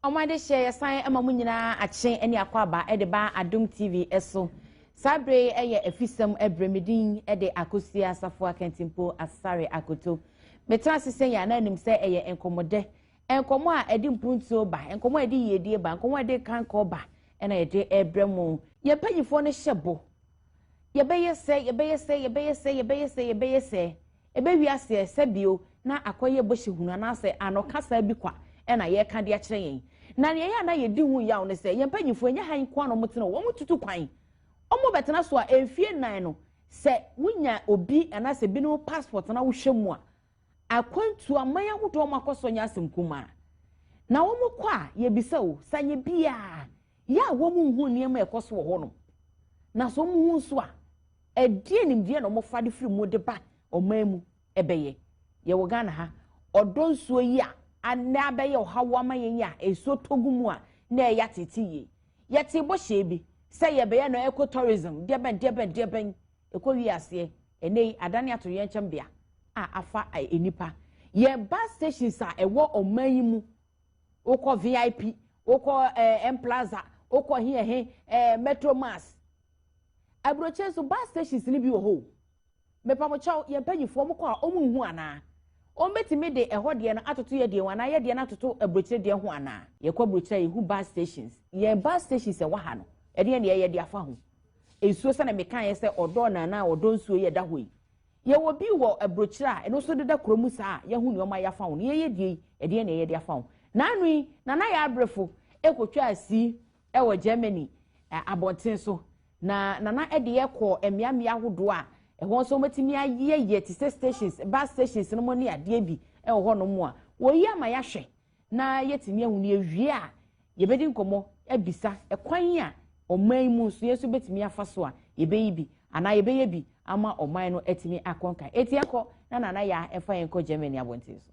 Wɔn adehyeɛ yɛsan ma mo nyinaa akye ne akwaaba de ba Adom TV so. Saa berɛ yi yɛ afisɛm berɛ me din de Akosua Asafo Akantimpo Asare Akoto. Metena ase sɛ yɛn anan nim sɛ ɛyɛ nkɔmmɔdɛ. Nkɔmmɔ a ɛde mpuntuo ba, nkɔmmɔ a ɛde yiedie ba, nkɔmmɔ a ɛde kankɔ ba ɛna yɛde ɛbrɛ mo. Yɛn mpanimfoɔ no hyɛ bɔ. Yɛbɛyɛ sɛ, yɛbɛyɛ sɛ, yɛbɛyɛ sɛ, yɛbɛyɛ sɛ, yɛbɛyɛ sɛ. Ɛbɛwie ase ɛ? Sɛ bio na akɔyɛ bɔhyɛ hunu anaasɛ anokasaa bi kwa na yɛreka de akyerɛ yɛn. Na nea ɛyɛ a na yɛdi ho yaw ne sɛ, yɛn mpanyimfo, ɛnyɛ ha nko ara na wɔtena o, wɔtutu kwan. Wɔbɛtena so a, mfeɛ nnan no, sɛ wonya obi anaasɛ binom passport na wohwɛ mu a, akwantuo aman ahodoɔ a wɔakɔ so nyɛ asɛm kumaa. Na wɔkɔ a, yɛbisa o, sɛ anyɛ biara, yɛ a wɔnhu nneɛma a ɛkɔ so wɔ hɔnom. Na sɛ wɔhu nso a, Ɛdeɛn nimdeɛ na wɔfa de firi mu de ba ɔman mu? Ɛbɛyɛ yɛwɔ Ghana ha, ɔdɔ nsuo yi a na abɛyɛ ɔhaw ama yɛn yi a nsuo tɔ gu mu a na ɛyɛ atete yie. Yɛtee bɔhyɛ bi sɛ yɛbɛyɛ no eco-tourism, deɛ bɛn, deɛ bɛn, deɛ bɛn. Ɛkɔwiee aseɛ, ɛnnɛ yi adane atoyerɛnkyɛmbea a afa nnipa. Yɛn bus stations a ɛwɔ ɔman yi mu, wokɔ VIP, wokɔ ɛɛ M-Plaza, wokɔ he ɛhe, ɛɛ Metro Mass, Aburokyire nso bus stations no bi wɔ hɔ o. Mepa mo kyɛw, yɛn mpanyinfoɔ ɔmo kɔ a ɔmo nhu anaa? Ɔmo bɛtumi de ɛhɔ deɛ no atoto yɛ deɛ ho anaa yɛ deɛ no atoto aburokyire deɛ ho anaa? Yɛkɔ aburokyire a yɛhu bus stations. Yɛn bus stations ɛwɔ ha no, ɛdeɛn na yɛyɛ de afa ho? Nsuo sɛnea mekaeɛ sɛ ɔdɔɔ no anaa ɔdɔ nsuo yi a ɛda hɔ yi, yɛwɔ bi wɔ aburokyire a ɛno nso deda kuro mu saa a yɛahu nea ɔma yɛafa ho no, yɛyɛ die yi, ɛdeɛn na yɛyɛ de afa ho? Naano yi, Nana Yabrefo ɛkɔtwaa si wɔ Germany abɔnten so, na Nana de yɛ kɔ mmeammea ahodoɔ a ɛhɔ nso wɔatumi ayeyɛyeyɛ te sɛ stations, bus stations no mu ne adeɛ bi wɔ hɔnom a wɔyi ama yɛahwɛ na yɛatumi ahu no yɛwie a yɛbɛdi nkɔmmɔ abisa kwan a ɔman yi mu nso yɛn nso bɛtumi afa so a yɛbɛyi bi anaa yɛbɛyɛ bi ama ɔman no atumi akɔnkan. Eti ɛkɔ na Nana Yaa ɛfa yɛn kɔ Germany abɔnten so.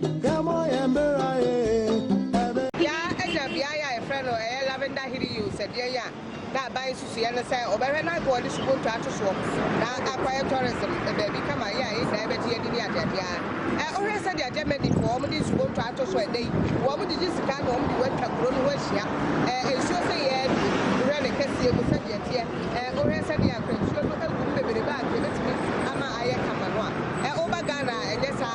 Bea Ɛna beae a wɔfrɛ no ɛyɛ Lavender Hilly Hills ɛdeɛn a na aban nsusuiɛ no sɛ ɔbɛhwɛ na anka ɔde subonto ato soɔ na akɔyɛ tourism baabi kama yɛ a yɛn nyinaa yɛbɛgye yɛn ani ne adeadeɛ a ɛ wohwɛ sɛdeɛ Germany foɔ wɔn de nsubonto ato so ɛnɛ yi wɔn gyegye sika na wɔn de wɔ atwa kuro no ho ahyia ɛ nsuo sei ɛ wohwɛ ne kɛseɛ mu sɛdeɛ ɛteɛ ɛ wohwɛ sɛdeɛ anka nsuo no ɛwom beberebe a anka ɛbɛtumi ama ayɛ kama no a ɛ woba Ghana a ɛnyɛ saa.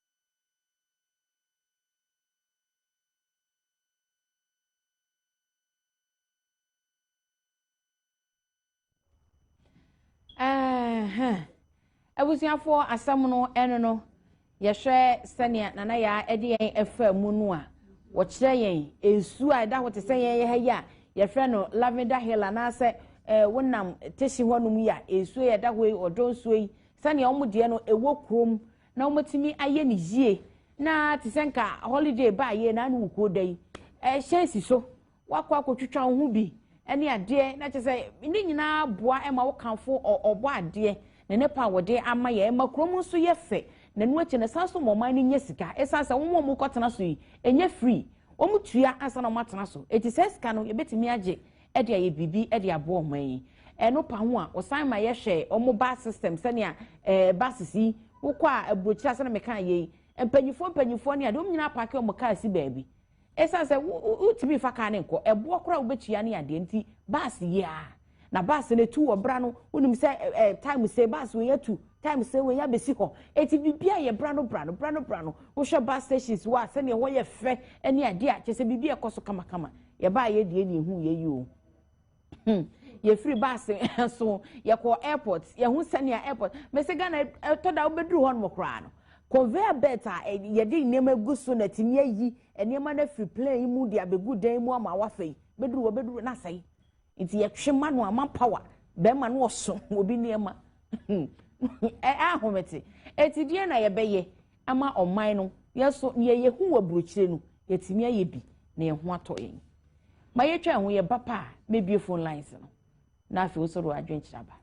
abusuafoɔ asɛm no ɛno no yɛhwɛ sɛnea nana yaa ɛde yɛn ɛfa mu no a wɔkyerɛ yɛn nsuo a ɛda hɔ te sɛ yɛn yɛ ha yi a yɛfrɛ no lavender hill anaasɛ ɛɛ wonam tehye hɔnom yi a nsuo yɛ ɛda hɔ yi ɔdɔ nsuo yi sɛnea wɔn deɛ no ɛwɔ kurom na wɔatumi ayɛ no yie na te sɛ nka holiday baa yie na ne wo kuo da yi ɛhyɛn si so wakɔ akɔtwitwa wo ho bi ne adeɛ na kyerɛ sɛ ne nyinaa boa ma wokamfo ɔbɔ adeɛ ne ne pa wɔde ama yɛ ɛma kurom nso yɛ fɛ na ɛno akyi no san so ma ɔman no nya sika ɛsan sɛ wɔn a wɔkɔtena so yi ɛnyɛ free wɔn tua ansa na wɔatena so eti sɛ sika no yɛbɛtumi agye de ayɛ biribi de aboa ɔman yi. Ɛno pa ho a, wɔsan ma yɛhwɛ wɔn bus system sɛnea ɛɛ buses yi wokɔ a aburokyire ase na meka ayɛ yi. Mpanyinfoɔ mpanyinfoɔ ne ade wɔn nyinaa apaake wɔn kaa si baabi. Esiane sɛ wo wo wotumi nfa kaa no nkɔ, ɛboɔ koraa a wobɛtua ne adeɛ nti bus yi ara. Na bus no etu wɔ bra no wonim sɛ ɛ ɛ time sei bus wei atu, time sei wei abɛsi hɔ. Eti biribiara yɛ bra no bra no bra no bra no. Wohwɛ bus stations wɔ a sɛnea ɛhɔ yɛ fɛ ne adeɛ a kyerɛ sɛ biribi rekɔ so kamakama. Yɛbaeɛ deɛ na yɛhuu yei o. Hmm. Yɛfiri baase so yɛkɔɔ airport yɛhu sɛnea airport mese Ghana ɛtɔ da wobɛduru hɔ nom koraa no conveyor belt a yɛde nneɛma gu so na atumi ayi nneɛma no afiri plane mu de abɛgu dan mu ama wafa yi bɛduru hɔ bɛduru no asɛe nti yɛtwe ma no ama power bɛrima no ɔso obi nneɛma ɛahomete ɛti deɛ na yɛbɛyɛ ama ɔman no, yɛn nso nea yɛhu wɔ aburokyire no, yɛatumi ayɛ bi na yɛn ho atɔ yɛn. Ma yɛtwa ɛho yɛ ba pa a mɛbie phone lines no na afei wo sɔrɔ adwenkyerɛ aba.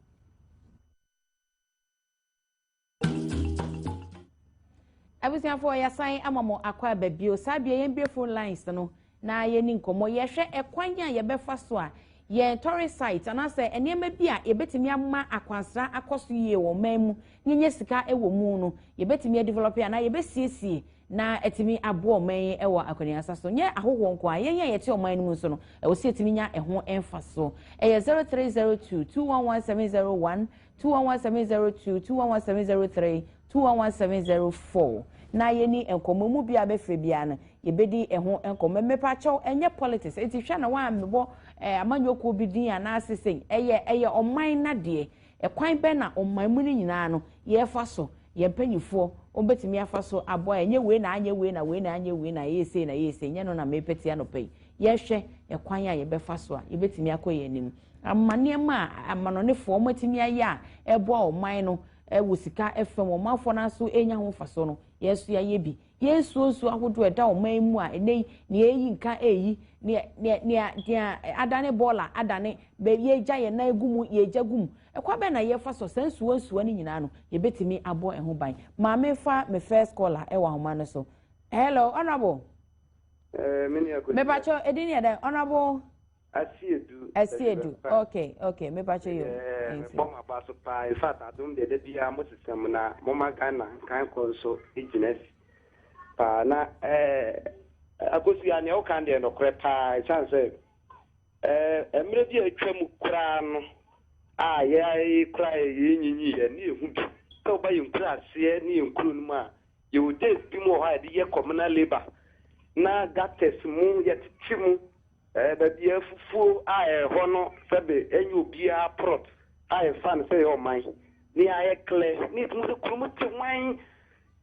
abusuafoɔ yɛasan ama mo akɔ aba bio saa bia yɛn bie phone lines no na yɛnni nkɔmmɔ, yɛhwɛ ɛkwan a yɛbɛfa so a yɛn tɔre site anaasɛ nneɛma bi a yɛbɛtumi ama akwansra akɔ so yie wɔ ɔman mu na yɛnya sika wɔ mu no, yɛbɛtumi adivɔlɔpe anaa yɛbɛsiesie na atumi aboa ɔman yi wɔ akɔneasa so. Nyɛ ahɔhoɔ nko ara, yɛn a yɛte ɔman no mu nso no, ɛwɔ sɛ yɛtumi nya ɛho mfasoɔ. Ɛyɛ 0302 211 701 2117002 2117003 2117004 na yɛni nkɔmmɔ mu biara bɛfrɛ biara no yɛbɛdi ɛho nkɔmmɔ mmepakyɛw ɛnyɛ politics ɛti hwɛ na wɔammebɔ eh, amanyɔkuo bi din anaase sɛn ɛyɛ ɛyɛ ɔman nadeɛ ɛkwan bɛn na ɔman mu no nyinaa no yɛfa so yɛn mpanimfoɔ wɔbɛtumi afa so abɔ a ɛnyɛ wei na anyɛ wei na wei na anyɛ wei na ɛyɛ sei na ɛyɛ sei nyɛ no na mepɛtia no pɛ yi yɛhwɛ ɛkwan a yɛbɛfa so a yɛbɛtumi akɔ yɛn anim Ama nneɛma a amanɔnefoɔ wɔatumi ayɛ a ɛboa ɔman no wɔ sika fam, ɔmanfoɔ no nso renya ho mfasoɔ no, yɛn nso yɛayɛ bi. Yɛresuo nsuo ahodoɔ a ɛda ɔman yi mu a ɛnnɛ yi nea ɛreyi nka reyi, nea nea nea nea adane bɔɔla adane, baabi yɛregya yɛn nan gu mu yɛregya gu mu. Ɛkwan bɛn na yɛfa so? Saa nsuo nsuo no nyinaa no, yɛbɛtumi abɔ ɛho ban. Maame fa me first caller wɔ ahoma no so. Hello, honourable. Eh, me nua Kwesi. Mepakyɛ, ɛdin yɛ dɛn? Honourable. Asiedu. Asiedu okay okay mepakyɛ yɛ. Ɛɛ mebɔ m'aba so paa in fact adom deɛ da biara mo sesɛ mu na mo ma Ghana nkan kɔ nso gyina si paa na ɛɛ akosua nea wokan deɛ nokorɛ paa ɛsan sɛ ɛɛ mmerɛ bi a atwa mu koraa no a yɛayɛ koraa yɛ yɛn nyinyi yɛ ne yɛhu bi sɛ woba yɛn kura aseɛ ne yɛn kuro no mu a yɛwɔ days bi mu wɔ hɔ a yɛde yɛ communal labour na gutters mu yɛtete mu Baabi a afufuo a ɛyɛ hɔ no sɛbe ɛnyɛ obiara prɔt a yɛfa no sɛ ɛyɛ ɔman. Nea ɛyɛ klɛ ne yɛtumi sɛ kuro mu te wan.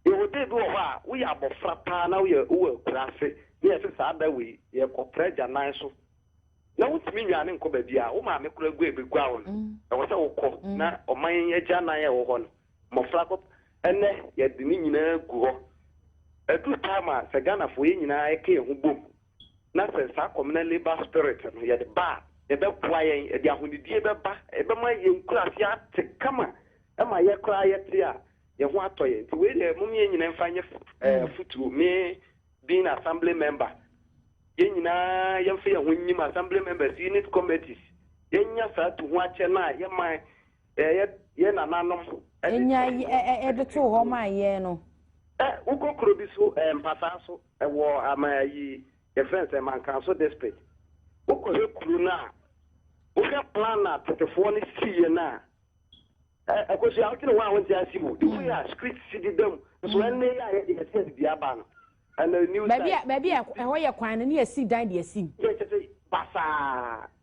Yɛwɔ da bi wɔ hɔ a woyɛ abɔfra paa na woyɛ wowɔ akuraase na yɛse saa da wei yɛkɔ pra agyanan so na wontumi nnwane nkɔ baabiara wo maame koraa agua ɛbɛgua wo no ɛwɔ sɛ wokɔ na ɔman agyanan a ɛwɔ hɔ no mmɔfra kɔ ɛnɛ yɛde ne nyinaa gu hɔ ɛduru time a sɛ Ghanafoɔ yɛ nyinaa ɛka yɛn ho bom na sɛ saa kɔmena labour spirit no yɛde ba a, ɛbɛboa yɛn, ɛde ahonidie bɛba, ɛbɛma yɛn nkuraase ate kama, ɛma yɛ koraa yɛte a, yɛn ho atɔ yɛn. Nti wei deɛ mom yɛn nyina mfa nyɛ afutuo, me being assembly member, yɛn nyinaa yɛmfa yɛn ho nyim assembly members, unit committees, yɛnya saa tu ho akyɛ no a yɛma yɛ yɛ nananom. Ɛnya yi ɛde too hɔ maa yɛn no. Ɛ wokɔ kuro bi so ɛ mpasaa so. Ɛwɔ ama ayi yɛfrɛ no sɛ Mankanso district. Wokɔ hwɛ kuro no a, wohwɛ plan a tetefoɔ no siiɛ no a, ɛ, Akosua, wote ne ho a wonte ase o. The way a street si deda mu, nso ɛnne yɛ a yɛde yɛte ase dua aba no, ɛna new Baabi a, side. baabi a ɛhɔ yɛ kwan no ne yɛsi dan de asi mu. Yɛ kyɛ sɛ basaa.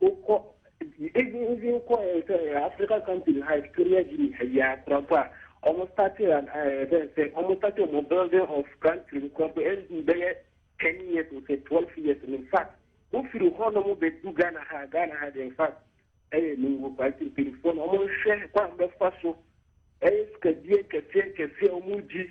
Wokɔ even even kɔ eh, sɛ eh, Africa country no ha Equatorial Guinea ha yi a korampo a wɔn starting an eh, bɛn sɛ wɔn starting wɔn building of country no korampo ɛndu bɛyɛ ten years or sɛ twelve years no in fact wofiri hɔ nom bɛdu Ghana ha Ghana ha de in fact ɛyɛ ne wɔ kwa nti mpanyinfoɔ no wɔn nhwɛ kwan bɛfa so ɛyɛ sikadie kɛseɛ kɛseɛ wɔn gyi.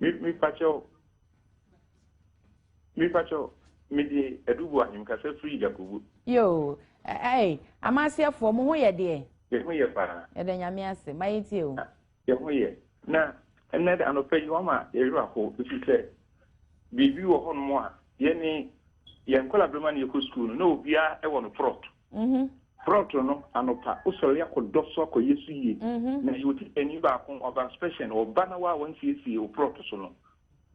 Me me pakyɛw. Me pakyɛw. Me de adubu ahim kasa firi Yakubu. Yoo, ɛɛ, amaseɛfoɔ mo ho yɛ deɛ. Yɛ ho yɛ paa. Yɛda nyame ase, ma yɛ tie o. Yɛ ho yɛ. Na ɛnɛ de anɔpa yi wama yɛwerɛ ho ɛfiri sɛ biribi wɔ hɔnom a yɛne yɛn nkɔla berɛma ne yɛkɔ sukuu no na obiara wɔ no prɔto. Mhm. Prɔto no, anɔpa, wosɔre akɔdɔ so akɔyɛ so yie. Mhm. Na yɛ otitani baako, ɔba special, ɔba na woa wɔnsiesie wo prɔto so no.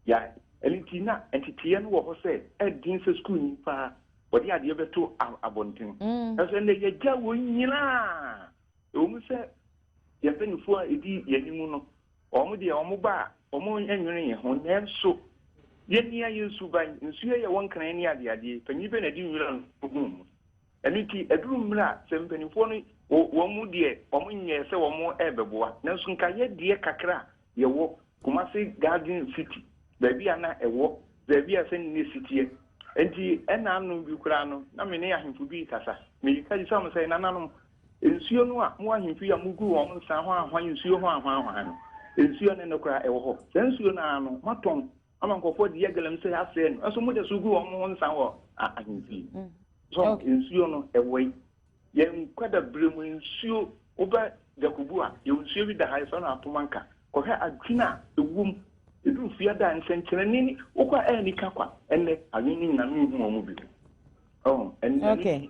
Yɛa, ɛno nti na nteteeɛ no wɔ hɔ sɛ ɛden sɛ sukuuni paa wɔde adeɛ bɛto a, abɔnten. Mm. Nanso ɛnnɛ yɛagya wɔn nyinaa. Ɛwɔ mu sɛ yɛn mpanimfoɔ a ɛdi yɛn anim no, Wɔn deɛ wɔn ba a, wɔn nnwene yɛn ho, nanso yɛnnia yɛn suban. Nsu yɛ yɛ wɔn nkran ne adeadeɛ, panin bɛ na ɛde nwira no gu mu. Ɛno nti, ɛduru mmerɛ a, sɛ mpanimfoɔ no, wɔn deɛ wɔn nyɛɛ sɛ wɔn rebɛboa, nanso nka yɛ deɛ kakra a yɛwɔ, Kumasi Garden City, baabi a na ɛwɔ, baabi a sɛ ne na ɛsiteɛ. Ɛnti, ɛnna anom bi koraa no, na me ne ahemfo bi rekasa, mereka bisa wɔn sɛ, Nananom, Nsuo no a mo ahemfo yi a mogu wɔn nsa hwanhwan nsuo ho ahwanhwan no, nsuo no nnɛ koraa ɛwɔ hɔ. Saa nsuo no ara no moatɔn ama nkurɔfoɔ de yɛ galamsey asɛe no, nso moda so gu wɔn ho nsa wɔ ahemfie. So nsuo no ɛwɔ yi? Yɛn nkwadabere mu nsuo, woba Djakobu a, yɛwɔ nsuo bi da ha, yɛfrɛ no Apomanka. Kɔhwɛ adwene a ɛwɔ mu. Ɛduru Fiada a, nsɛnkyerɛnne ni. Wokɔ a, ɛyɛ anika kwa. Ɛnnɛ, adwene no nyinaa menhu wɔn bio. Ɛnnɛ,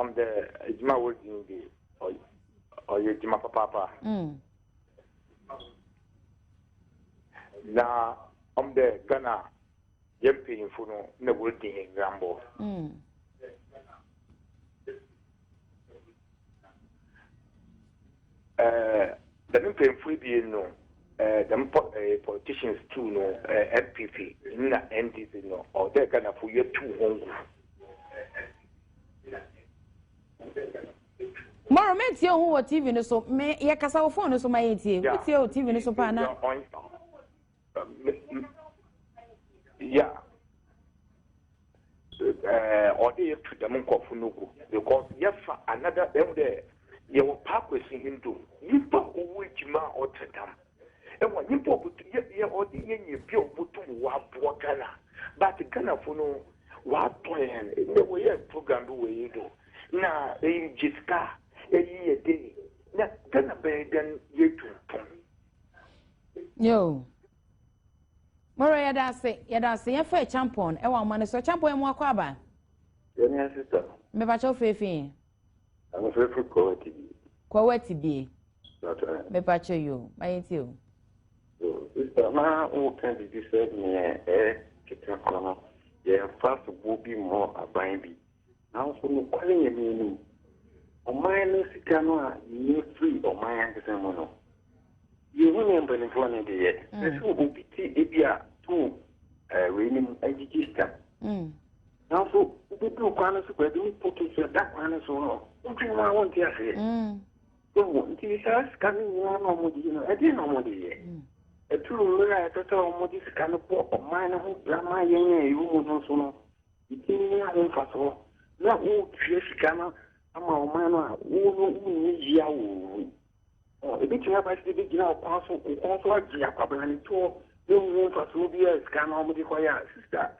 ɔm dɛ adwuma a wɔdzi no de ɔyɛ adwuma papaapa mm. na ɔm dɛ ghana yɛ mpanyimfo no na wɔdzi hɛn nwambɔ mm. Eh, dɛm mpanyimfo ebien no, eh, dɛm po eh, politicians two no, eh, NPP na NDC no, ɔwɔ dɛ Ghanafo yɛtu hɔn gu. Moro, metie wo ho wɔ TV no so. Me, yɛkasa wɔ phone no so ma yɛntie. Wotie wɔ TV no so paa na. ya ɔde yɛ tu dɛm nkɔfo no gu because yɛfa anada ɛmu dɛ yɛwɔ paakwasi hindu nyimpa ɔwɔ edwuma a ɔtse dɛm ɛwɔ nyimpa ɔbɛtu yɛ yɛ ɔde yɛ nyɛ bi a ɔbɛtum wɔaboa ghana but ghanafo no wɔatɔ yɛn na wɔyɛ program bi wɔ yi do na eyi gye sika eyi yɛ dɛ na ghana bɛyɛ dɛn yɛtu mpɔn Yoo. Mɔrɔ yɛda ase yɛda ase yɛn fɛ champon ɛwɔ ama no so champon yɛn mu akɔ aba. Yɛn yɛn sista. Mbɛba kyɛw feefi yɛn. Ɛmu feefi kɔ wɛ ti bie. Kɔ wɛ ti bie. Lọtọ yɛn. Mbɛba kyɛw yoo ma yɛn ti o. Sista na wo kan bibi sɛ neɛ ɛɛ keka kɔ no yɛn fa sobo bi mɔ aban bi. Nanso nokware yɛ nea ɛnim. Ɔman no sika no a yenya firi ɔman ankasa mu no, yehu nea mpanimfoɔ no de yɛ. Ɛsɛ sɛ obi te ebi a to eh, wei no mu agyigye sika. Mm. Nanso wobɛduru kwan no so baabi ne poke sɛ da kwan no so no, wodwene ho a wonte aseɛ. Mm. Wohu, nti saa sika no nyinaa na wɔde yi no, ɛdeɛ na wɔde yɛ? Mm. Ɛturu mmerɛ a ɛsɛ sɛ wɔde sika no bɔ ɔman no ho bra ma yɛn a ɛwɔ mu no so no, Ɛtumi nya ho mfasoɔ na wotua sika no ama ɔman no a wo no wonni yea wɔ mu. Ɛbɛtumi aba sɛ bɛgyina ɔkwan so nkɔn so agye akwabelanetoɔ na ɛnni ho mfasoɔ biara sika no a wɔde kɔyɛ a sista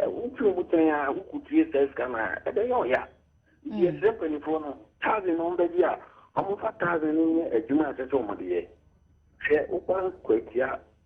wotwe mu tɛn a wokɔtue saa sika no a ɛbɛyɛ ɔya. Nti yɛsrɛ mpanimfoɔ no thousand no ɔmbɛgye a ɔmfa thousand no nyɛ adwuma a ɛsɛ sɛ ɔmode yɛ. Hwɛ wokwan kwatia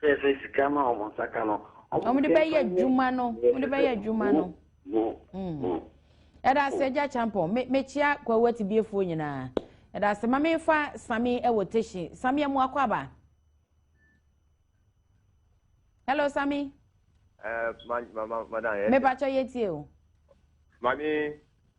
Sɛsɛ sika no a wɔn nsa ka no. Wɔn de bɛyɛ adwuma no wɔn de bɛyɛ adwuma no. Ɛda ase agya kyampɔn me mekyia kwawu atibiefoɔ nyinaa ɛda ase ma mefa sami ɛwɔ teshi sami amu akɔ aba. Hello sami. Ɛɛ ma ma ma madan yɛ. Mepa kyɛ yɛ tie o. Mami.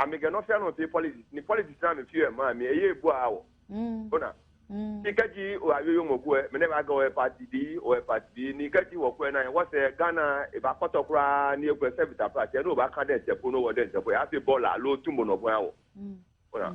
Ame kɛ nɔsɛ anɔ se politics ni politics na me fiɛ ma mi eye bua awɔ. Ona. Ni kɛ ji o ayoyo mɔ kuɛ mene ba gɛ ɔɛ party bi ɔɛ party bi ni kɛ ji wɔ kuɛ na yɛ wɔ sɛ Ghana e ba kɔtɔ kura ni e kuɛ sɛ vita pra sɛ no ba kan dɛ nsɛpo no wɔ dɛ nsɛpo yɛ ase bɔ la alo tumbo nɔ buɛ awɔ. Ona.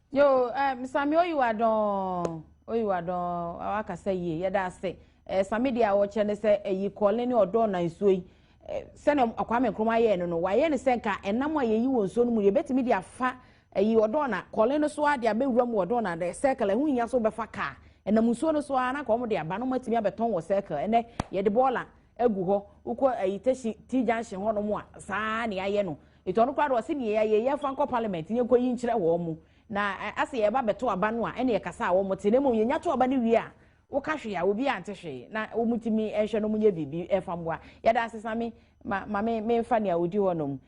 Yo eh, Sami oyi wa dɔn oyi wa dɔn awa kasa yie yɛda ase eh, Sami deɛ a wɔkyerɛ ne sɛ ɛyi eh, kɔɔle ne ɔdɔɔ na nsuo yi eh, sɛnea Kwame Nkrumah ayɛɛ no no wayɛ ne sɛ nka ɛnam a yɛyi wɔ nsuo no mu yɛbɛtumi de afa ɛyi eh, ɔdɔɔ na kɔɔle no so a de abɛwura mu ɔdɔɔ na de circle ɛho hia so bɛfa kaa ɛnam nsuo no so a na ka wɔn de aba no matumi abɛtɔn wɔ circle ɛnɛ yɛde bɔɔla agu hɔ wokɔ ɛyi tɛsi ti junction hɔ nom a saa ne ayɛ no Enti ɔno koraa deɛ ɔse neɛ yɛayɛ yɛ fa nkɔ parliament ne yɛnkɔ yi nkyerɛ wɔn mo na asɛ yɛba bɛto aba no a ɛne yɛkasa a wɔn te na mmom yɛnya to aba no wie a woka hwee a obiara nte hwee na wɔn tumi nhwɛ no wɔn nyɛ biribi ɛfa mmoa yɛda ase sa me ma ma me menfa nea odi hɔ nom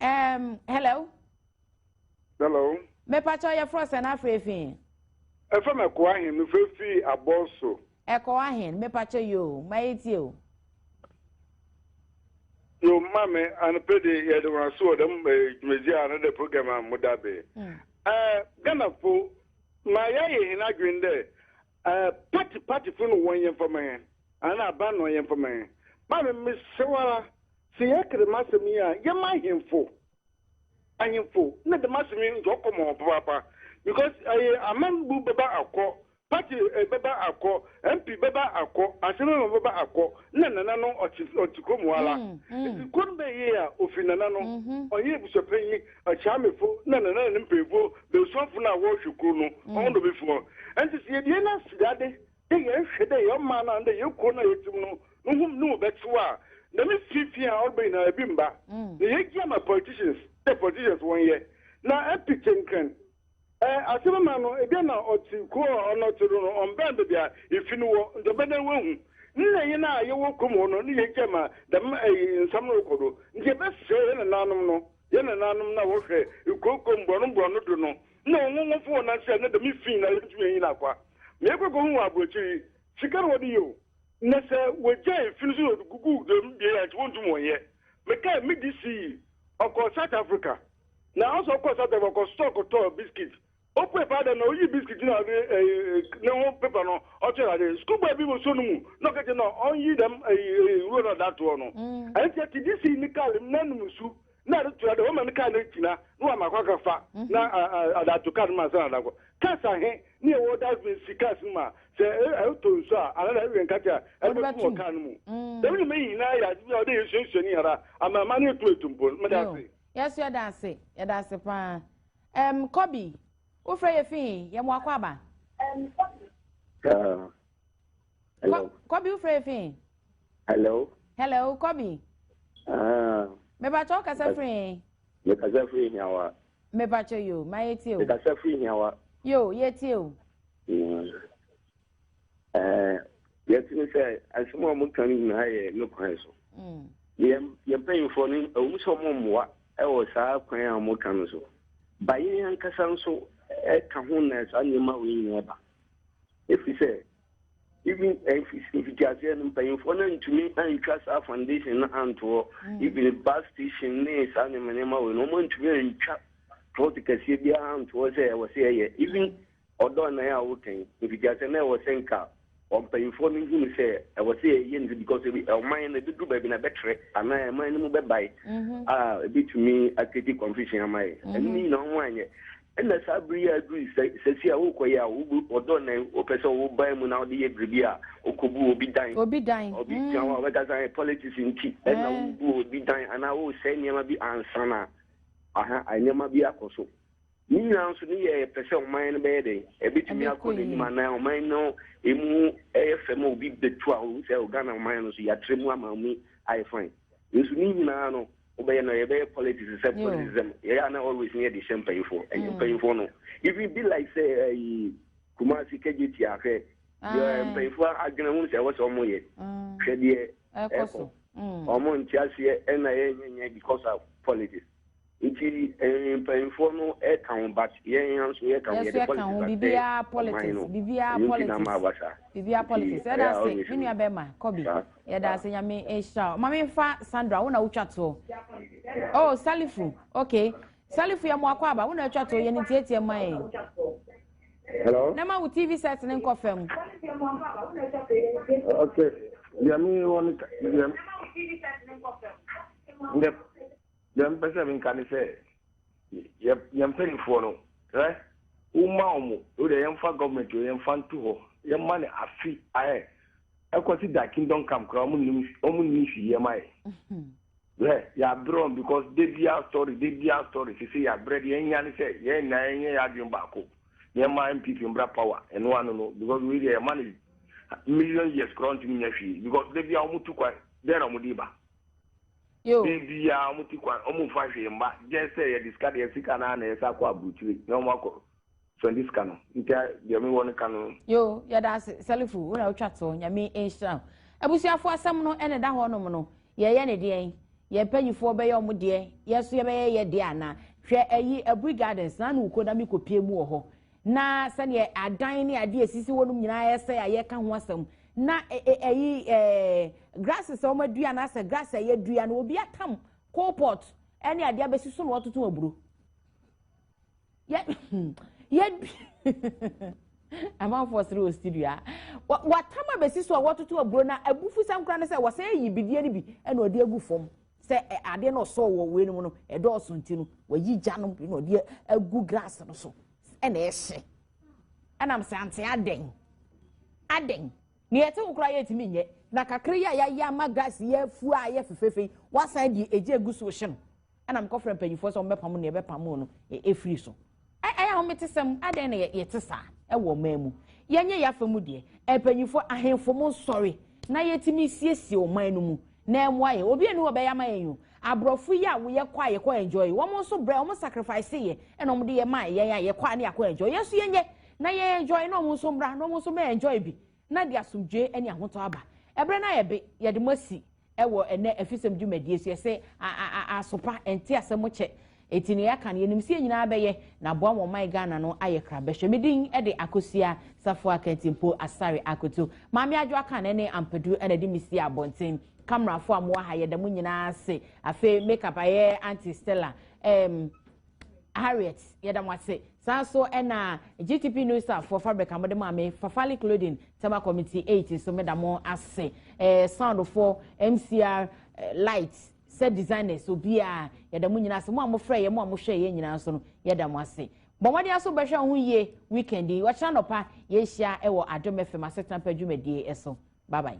um, hello hello mepakyɛ ɔyɛ frɔ sɛ na afrɛ fi ɛfɛ mɛkoa he mefrɛ fi abɔso Ɛkɔ ahen? Mepakyɛ yoo, maye tie o. Yo mame anɔpɛ de yɛde wɔn ase wɔ dɛm dwumadzi a anadɛ program a mo da be. Ɛɛ Ghana fo ma yɛayɛ hɛn adwen dɛ ɛɛ party party fo no wɔnyɛ mfama hɛn anaa aban na ɔnyɛ mfama hɛn. Mame mesrɛ wo ara sɛ yɛka dɛm asɛm yi a yɛma ahemfo ahemfo na dɛm asɛm yi nka ɔkɔ ma hɔn papaapa because ɛyɛ aman bu bɛba akɔ Party bɛba akɔ, MP bɛba akɔ, Asɛmama bɛba akɔ, na Nana no ɔte ɔte kurom hɔ ara. Nti kuro no bɛyɛ yie a, ɔfiri Nana no, ɔnyɛ abusuapanyin, Akyeamefoɔ na Nana ne ne mpanimfoɔ bɛsuafoɔ no a wɔrehwɛ kuro no, wɔn na ɔbɛfua. Nti sɛ yɛdie no asedade dɛ yɛnhwɛ dɛ yɛn ɔman no anaadɛ yɛn kuro no a yɛte mu no, no ho ne mu bɛtew a, dɛm fi fi a ɔreba nyinaa ebi mma. Na yɛgye ama politicians dɛ politicians wɔnyɛ, na MP Kyɛnkrɛn Eh, ase no ma no, ebia na ɔtse kurow a ɔno ɔtse do no, ɔmmbɛn beebi a ifi no wɔ, nkyɛ ɔbɛdan woehu. Nna hɛn a yɛwɔ kurom hɔ no, nna yegyae ma dɛm eh nsɛm no rokɔ do. Ntsi yɛbɛsɛɛ hɛn nananom no, hɛn nananom no a wɔhwɛ nkurokurow mborɔn mborɔn do no, nna hɔn nkorɔfo hɔn nan sɛɛ na dɛm fi nyina yenntum hɛn nyina kwa. Mekɔ ekohun wɔ aborɔkyir yi, sika na wɔdze yɛ o, na sɛ wogyae fi no so na wɔdze gugu dɛm bea yi a nkyɛ wonntum wɔnnyɛ. Mekãe, me disi yi, ɔkɔr South Africa. Na Aso kɔɔ Satan hɔ kɔsosɔɔ kɔtɔɔ biscuit. Opuee paa dɛn na oyii biscuit no a ɔde ɛyi ne ho paper no ɔkyerɛɛ n'ade. Sukuu bɔɔ bi wɔ nsuo no mu na ɔka kyerɛ no a ɔnyi dɛm ɛyi ɛyi nwuro no a ɔde ato hɔ no. Ɛno nti ɛte de sii ne car mu na anom nsu na ade to ade wɔma ne car no agyina na wɔama akɔ akɔfa na ade ato car no mu ansa na ade akɔ. Cars ahe ne ɛwɔ dustbin si cars no mu a sɛ ɛtɔ nsu a anaa na ɛwɛn nkate a ɛde bɛto wɔ car no mu. Dɛm nneɛma yi nyinaa yɛ ade bi a ɔde yɛ suasua ne yɛn ara ama ama no yɛtumi atu mpɔn. Meda ase. Yɛso yɛda ase, yɛda ase paa. Ɛm, Kɔbi, wofrɛ yɛ fi he? Yɛ mo akɔ aba. Ɛm, Kɔbi. Hello. Hello. Kɔbi, wofrɛ yɛ fi he? Hello. Hello, Kɔbi. Ah. Mebakyɛ wokasa firi he? Mekasa firi hiawa. Mebakyɛ yo, ma yɛtie o. Mekasa firi hiawa. Yo, yɛtie o. Mm. Eh, yɛte ne sɛ asɛm a wɔka no nyinaa yɛ ne kwan so mm. yɛ mpanyimfoɔ no ɛwom sɛ ɔmo mmoa ɛwɔ saa kwan a ɔmo ka no so ba yɛn ankasa nso ɛka ho na saa nneɛma wei nyinaa ba ɛfiri sɛ even eh, mfitiaseɛ no mpanyimfoɔ no antumi antwa saa foundation no antoɔ mm. even bus station ne saa nneɛma nneɛma wei no ɔmo antumi antwa plot kɛseɛ biara antoɔ sɛ ɛwɔ sɛ ɛyɛ even mm. Ɔdɔ nnan a woka yi, mfitiase no na ɛwɔ sɛ nka mpanyimfoɔ no hu no sɛ ɛwɔ sɛ yɛyɛ no because ebi ɔman no ebeduru baabi na ɛbɛtrɛ anaa ɛman no mu bɛbae mm-hmm. a ebetumi akedi confusion ama yɛ ɛno mm-hmm. nyinaa wɔn anyɛ ɛna saa bere yi a aduru sɛsi a wokɔ yɛ a wobu ɔdɔ nan wopɛ sɛ woban mu na wode yɛ biribi a wokobu obi dan obi dan obi mm. tiawa wɔbɛkasa yɛ politics nti ɛna eh. wobu obi dan anaa wosɛe nneɛma bi ansana aha nneɛma bi akɔ so Ne nyinaa nso ne yɛ yɛpɛ sɛ ɔman no bɛyɛ dɛn ɛbɛtumi akɔ n'anim anaa ɔman no ɛmu ɛyɛ fɛ ma obi bɛtu a ɔhu sɛ Ghana ɔman no so yɛatrɛ mu ama mu ayɛ fine nso ne nyinaa no wobɛyɛ no yɛbɛyɛ politics sɛ politicism yɛyɛ ana always ne yɛde hyɛ mpayifoɔ ɛnyɛ mm. mpayifoɔ no even be like sɛ ayi kumasi kɛgye ti ahwɛ deɛ mpayifoɔ adwene ho sɛ ɛwɔ sɛ ɔmo yɛ hwɛ deɛ ɛkɔ ɔmo nte aseɛ ɛna yɛnyɛnyɛ because of politics Nti eh, mpanyinfoɔ no ɛka ho but yɛn ha nso yɛka ho, yɛde politics asɛe bibiara politics no, bibiara ɛno nti na ama aba saa. Bibiara politics, ɛda ase me nua bɛrima Kobe, yɛda ase nyame nhyira o. Maame nfa Sandra, wo na wotwa toɔ. Oh, Salifu, okay. Salifu yɛ mmoakɔ aba, wo na atwa toɔ, yɛ ne tietie mma yɛn. Hello? Na ma wo TV set ne nkɔ fam. Okay, yɛ me wɔ ne ka, yɛ. Yep. Deɛ mpɛ sɛ menka ne sɛ yɛ yɛn mpanimfoɔ no hwɛ woma wɔn wo deɛ yɛmfa government o yɛmfa nto hɔ yɛma no afe ahɛ ɛkɔsi da kingdom come koraa wɔn nim wɔn nim si yɛ ma yɛ hwɛ yɛabrɛ wɔn because de bia story de bia story sisi yɛabrɛ deɛ yɛnya ne sɛ yɛn nyinaa yɛnyɛ yɛ adwene baako yɛma npp mbra power ɛno ano no because wei deɛ yɛma no million years koraa ntumi nya hwee because de bia wɔn tu kwan dɛn na wɔn de ba. Yo. Biribiaa ɔmo ti kwan ɔmo nfa hwee mma just sɛ yɛde sika deɛ sika no ara na yɛsan akɔ aburukyire na ɔmo akɔ spɛndi sika no nti deɛ mewɔ no ka no. Yo yɛda ase sɛlifo wo na wotwa toɔ nyame nhyira wo abusuafoɔ asɛm no ɛna ɛda hɔ nom no yɛyɛ ne deɛn yɛn mpanyifoɔ bɛyɛ ɔmo deɛ yɛso yɛbɛyɛ yɛ deɛ anaa hwɛ ɛyi aburi gardens na na wokɔ na mekɔ pie mu wɔ hɔ na sɛdeɛ adan ne adeɛ esisi hɔ nom nyinaa ɛsɛ a yɛka ho asɛm na ɛyi ɛɛ grasses a wɔadua anaasɛ grass a yɛadua no obi atam coal pot ɛne adeɛ abɛsi so na wɔatoto aburo yɛ yɛ amanfoɔ sere wɔ studio a wɔatam abɛsi so a wɔatoto aburo na abufu sɛm koraa no sɛ wɔsɛ ayi bidie no bi ɛna ɔde agu fam sɛ adeɛ no ɔsɔɔ wɔ wei no mu no ɛdɔɔso nti no wɔyi gya no bi na ɔde agu grass no so ɛna ɛhye ɛnam sɛ ante adɛn adɛn nea ɛte wo koraa yɛtumi nyɛ na kakra yi a yɛayɛ ama grass yɛ afu a yɛ fefefe wasan de egya egu so hyɛ no ɛnam kɔfrɛ mpanyinfoɔ sɛ wɔbɛpam nea ɛbɛpam no ɛfiri e, so Ɛyɛ ahometesɛm, adɛn na yɛte saa wɔ ɔman mu? Yɛnyɛ yɛn afa mu deɛ, mpanyinfoɔ, ahenfo mo nsɔre na yɛtumi nsiesie ɔman no mu na ɛmoa yɛn. Obi ɛni hɔ ɔbɛyɛ ama yɛn o. Aborɔfo yi a yɛkɔ a yɛkɔ enjoy, wɔn nso brɛ, wɔn sacrifice yɛ ɛna wɔde yɛ ma yɛn a yɛkɔ a na yɛakɔ enjoy. Yɛn nso yɛnyɛ na yɛn enjoy na wɔn nso mmra na wɔn nso mɛ enjoy bi. na de asomdwoe ne ahotɔ aba. Ɛberɛ no ayɛ be, yɛde mo asi wɔ ɛnnɛ afisɛm dwumadie so. Yɛsɛ a a a asopa, ɛnte asɛm mo kyɛ. Enti nea yɛaka no, yɛnim sɛ yɛn nyinaa bɛyɛ, na aboa mo ɔman Ghana no ayɛ krabɛhwɛ. Me din de Akosua Safoa Kantimpo Asare Akoto. Maame Adwo Akan ne Ampadu na ɛde me sii abɔnten. Camerafoɔ a mowɔ ha, yɛda mo nyinaa ase. Afei, makeup ayɛ Auntie Stella. Ɛɛm, Harriet yɛda mo ase saa so ɛna GTP New Star for fabric a mo de maa me Fafali clothing tema committee eight so meda mo ase ɛɛ sound for MCR eh, light sɛ designers obiara yɛda mo nyinaa ase mo a mo frɛ yɛ mo a mo hwɛ yɛ nyinaa nso no yɛda mo ase bɔmmɔden aso bɛhwɛ ho yie weekend yi wɔkyerɛ nɔpa yɛhyia ɛwɔ adom fm asetena pa dwumadie ɛso bye bye.